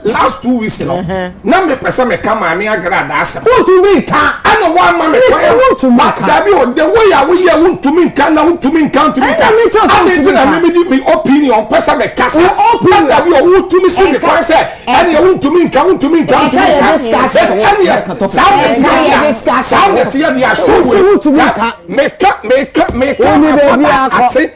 last two weeks no na me pɛ sɛ meka maame agrada asɛm wontumi nka ɛna woama me kwan dabi o the way a woyɛ wontumi nka na wontumi nka wontumi nka ade nti na memedi me opinion pɛ sɛ meka sa dabi o wotumi si me kwan sɛ ɛneɛ wontumi nka wontumi nka wontumi nka ɛneɛ saa nɛteɛ deɛ saa nɛteɛ deɛ ahyɛ wei meka meka meka afɔda ate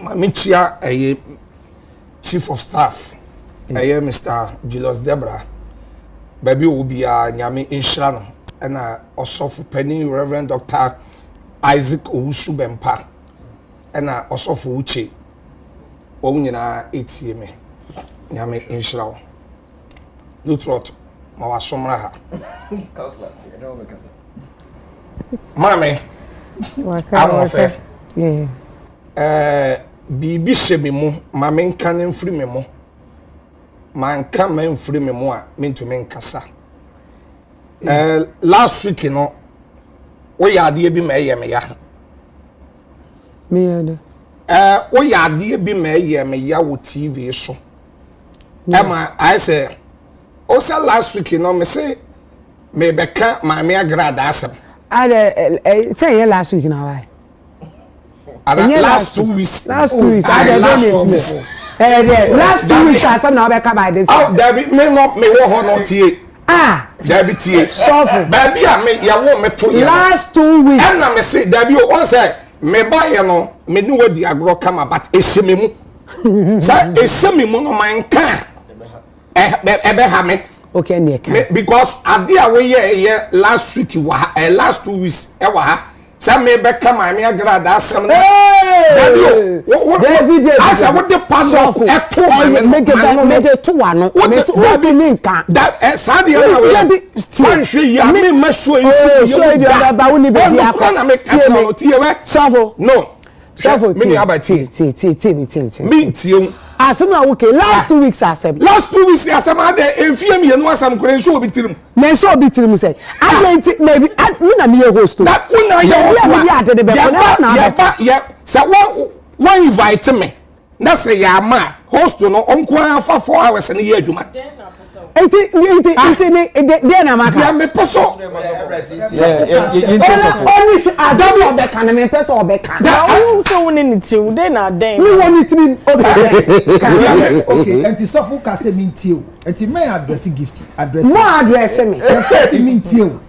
Maame Kyia ɛyɛ chief of staff ɛyɛ mm. Mr. Julius Debra baabi ɔwɔ biara nyame nhyira no ɛna ɔsɔfo panin Reverend Dr. Isaac Owusu Bɛmpa ɛna ɔsɔfo Uche wɔn nyinaa etie me nyame nhyira wo Lutrot ma wasomra ha. maame ahoɔfɛ ɛɛ eh, biribi hyɛ me mu ma menka no mfiri me mu manka ma mfiri me mu a mentumi nkasa ɛɛ eh, last week no woyɛ adeɛ bi ma ɛyɛ me ya ɛɛ eh, woyɛ adeɛ bi ma ɛyɛ me ya wɔ tv so ɛma ayɛ sɛ ɔsɛ last week no mese Merebɛka Maame Agra adaasɛm. Ada ɛ sɛ ɛnyɛ last week na wae. Ɛnyɛ last two weeks. Last two weeks. Ada ɛdɛ na esi yɛ. Ɛyɛ dɛ last two weeks asɛm na wabɛka by this. Aw dabi me no me wɔ hɔ no tie. Ah. Dabi tie. Sɔfo. Baabi a me yɛwo me to yɛ. Last two weeks. Ɛna me se dabi o wɔn sɛ me ba yɛ no me ne wɔ di agorɔ kama but ehyɛ me mu. Sɛ ehyɛ me mu no man kan. ɛbɛha me okay ɛne ɛka because ade a woyɛ yɛ last week wɔ ha eh, last two weeks ɛwɔ eh, ha sɛ mebɛka maame agradaa asɛm no dabi o asɛ wode padlock ɛto mede to wano wode me nka saa deɛ no woanhwɛ yi a memma suo yi so yɛ wo da ɔnokora na meka kyerɛ no tiɛ wɛ no sɛfo tie tie tie tie tie mi tie mi tie mi tie mu. asɛm a woke last two weeks asɛm. last two weeks asɛm adɛ efie mmienu asɛm kura nso obi tirim. na nso obi tirim sɛ adɛ nti na ebi mi na mi yɛ host o. na o na yɛ host wa yɛba yɛba yɛ sɛ wɔn wɔn invite mi na sɛ yɛ ama a host no nko ara fa four hours no yɛ adwuma. nti nti ah. nti ni de deɛ na ma ka. deɛ mi pɛ so. ɔni sɛ adam yɛ ɔbɛ kan mi pɛ sɛ ɔbɛ kan. na ɔwɔ sɛ wɔn ni ne tiri mu de na adɛn. mi wɔ ne tiri mu o de adɛn. ok nti sɔfo kase mi n tie o nti mɛ adrɛsi gifti adrɛsi. mɔ adrɛsi mi. sɔsi mi n tie o.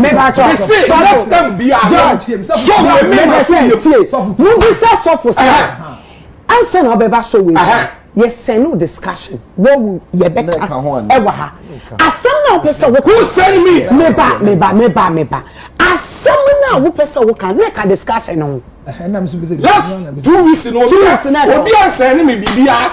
mese sɔre stem biara george sɔwe mema so yɛ tie mobisa sɔfo sɛ ansa na ɔbɛba sɔ wei so yɛsɛn no discussion wɔwu yɛbɛka ɛwɔ ha asɛm na wopɛ sɛ woka sɛn mi meba meba meba meba asɛm na wopɛ sɛ woka ne ka discussion no ho last two weeks no obi ansɛn ne me biribiara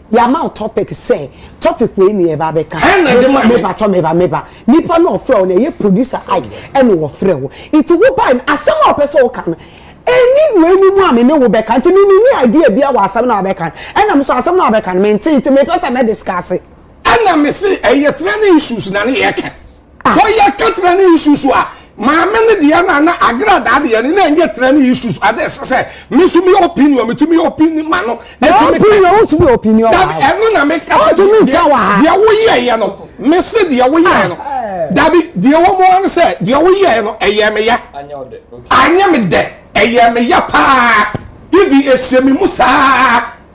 Yama o topic sɛ topic wei ne yɛba bɛka. Hɛn na ɛde ma me. Meba tɔ meba meba. Nipa na ɔfrɛ wo na ɛyɛ producer Ike ɛna ɔfrɛ wo. Nti wo bae no asɛm a ɔpɛ sɛ ɔka no ɛni wei no mu a me ne wo bɛka. Nti me menni idea biara wɔ asɛm no a wobɛka no. Ɛna me nso asɛm no a wobɛka no mentee nti mepɛ sɛ mɛ discuss. Ɛna me se ɛyɛ training issues na ne yɛka. Sɛ yɛ ka tena ne isu so a, maame ne deɛ na na agradaa deɛ ne na ɛnyɛ tena ne isu so. Ade ɛsɛ sɛ me nso me opinion me tumi opini ma no. Na opinion o tumi opinion wa. Dabi ɛno na me kasa deɛ deɛ wo yɛ yɛ no me se deɛ wo yɛ no. Dabi deɛ wɔn mo ano sɛ deɛ wo yɛ no ɛyɛ me ya. Anyɛ me dɛ ɛyɛ me ya paa. Even ɛhyɛ me mu saa.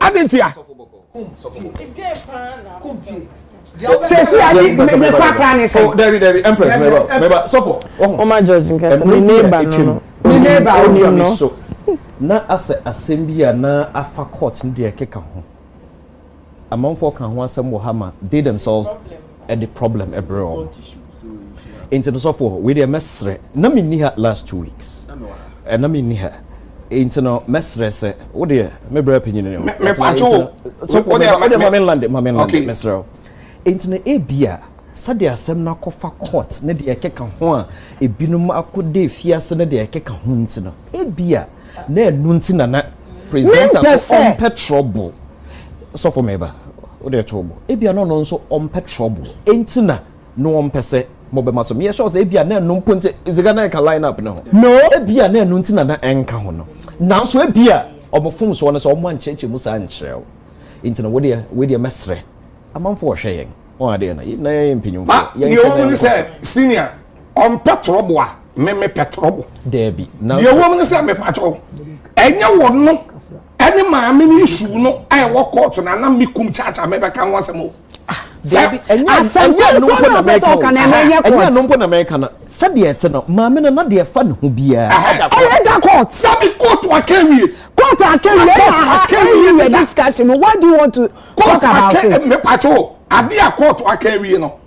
Adɛn ntia? sɛsi a ne ne kɔ akora ne sɛ. dabi dabi empress mɛba mɛba sɔfo. ɔma george nkasa ne neighbor no no. ne neighbor no no. so na asɛ asɛm bi a na afa court no deɛ ɛkeka ho amanfoɔ ka ho asɛm wɔ ha ma they themselves. de problem brɛ wɔn nti no sɔfo hɔ wei deɛ mɛsrɛ na menni ha last two weeks na menni ha nti no mɛsrɛ sɛ wo deɛ mebrɛ panyini ne hɔwode ma menlande ma menlande mɛsrɛ wo nti no ebi a sɛdeɛ asɛm no akɔfa court ne deɛ ɛkeka ho a ebinom akɔda efiase ne deɛ ɛkeka ho nti no ebi a na ɛnu nti na na presenter so ɔmpɛ trouble sɔfo mɛba o de ɛto bo ebi ano no nso ɔmpɛ trouble enti na no ɔmpɛ sɛ mo bɛma so meyɛ sure sɛ ebi a na ɛnu mpo nti sika na ɛka line up ne ho no ebi a na ɛnu nti na na ɛnka ho no nanso ebi a ɔmo fom soɔ no sɛ ɔmo ankyerɛkyerɛ mu saa nkyerɛw nti na wodeɛ wodeɛ mɛsrɛ amanfo ɔhwɛ yɛn wɔn adeɛ na yɛn na yɛn mpanyinfo yɛn kɛnɛ yɛn kɔ so. ɔmpɛ torɔbo a me mepɛ torɔbo daabi deɛ ɛwom no sɛ mepakyɛw ɛnyɛ wɔ no ɛne maame no nsuw no a ɛwɔ kɔɔto na nam me kum kyaakyaa mɛbɛka ho asɛm o ah, asɛmpa no mpo na mɛka o ɛnyɛ no mpo na mɛka no sɛdeɛ ɛte no maame no na deɛ ɛfa ne ho biara ɛyɛ da kɔɔt sɛbi kɔɔto aka wie kɔɔto aka wie na aka wie yɛ discussion what do you want to talk about it mepakyɛw adeɛ a kɔɔto aka wie no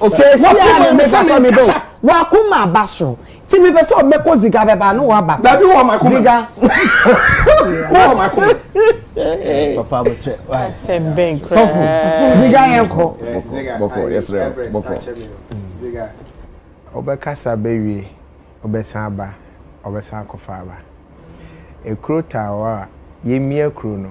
wɔte mu mi sɛ ne nkasa wakoma aba soro ti mi pɛ sɛ ɔbɛkɔ ziga bɛba ne waba dabi wɔ ma koma ziga wɔ ma koma papa mo kyɛ asɛm bɛn kura sɔfo ziga yɛn kɔ bɔkɔ yɛsrɛ bɔkɔ ziga ɔbɛkasa bɛwie ɔbɛsan aba ɔbɛsan akɔfa aba ekuro taawa yɛmia kuro no.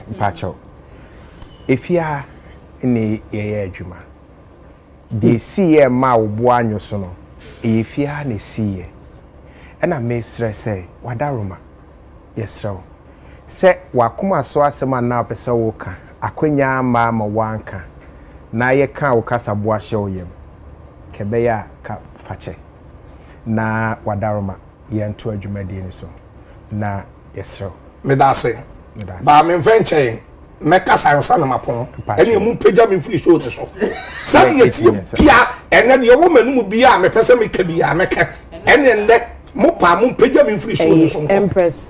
Mpakyɛw, efie ha na yɛyɛ adwuma. Deɛ ɛsiiɛ ɛmaa wo bo anwo so no, ɛyɛ fie ha na ɛsiiɛ. Ɛna mesrɛ sɛ, w'adaworoma, yɛsrɛ wo sɛ w'akoma so asɛm a na wopɛ sɛ woka, akwanya amma ama woanka, na yɛkaa wo kasaboa hyɛɛ wo yam, ka ɛbɛyɛ a ka fakyɛ na w'adaworoma. yɛntoa dwumadie no so na yɛserɛ wo. Medase. Medase. Baa me mfɛ nkyɛn mɛkasa nsa na mapɔn ɛne ɛmu mpagya me mfiri show no so sɛdeɛ tie bia ɛnɛ deɛ ɛwɔ m'anom bia a mepɛ sɛ meka bia mɛka ɛne ɛnɛ mo paa mo mpagya me mfiri show no so nkɔ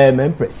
ɛɛ mɛmprɛs.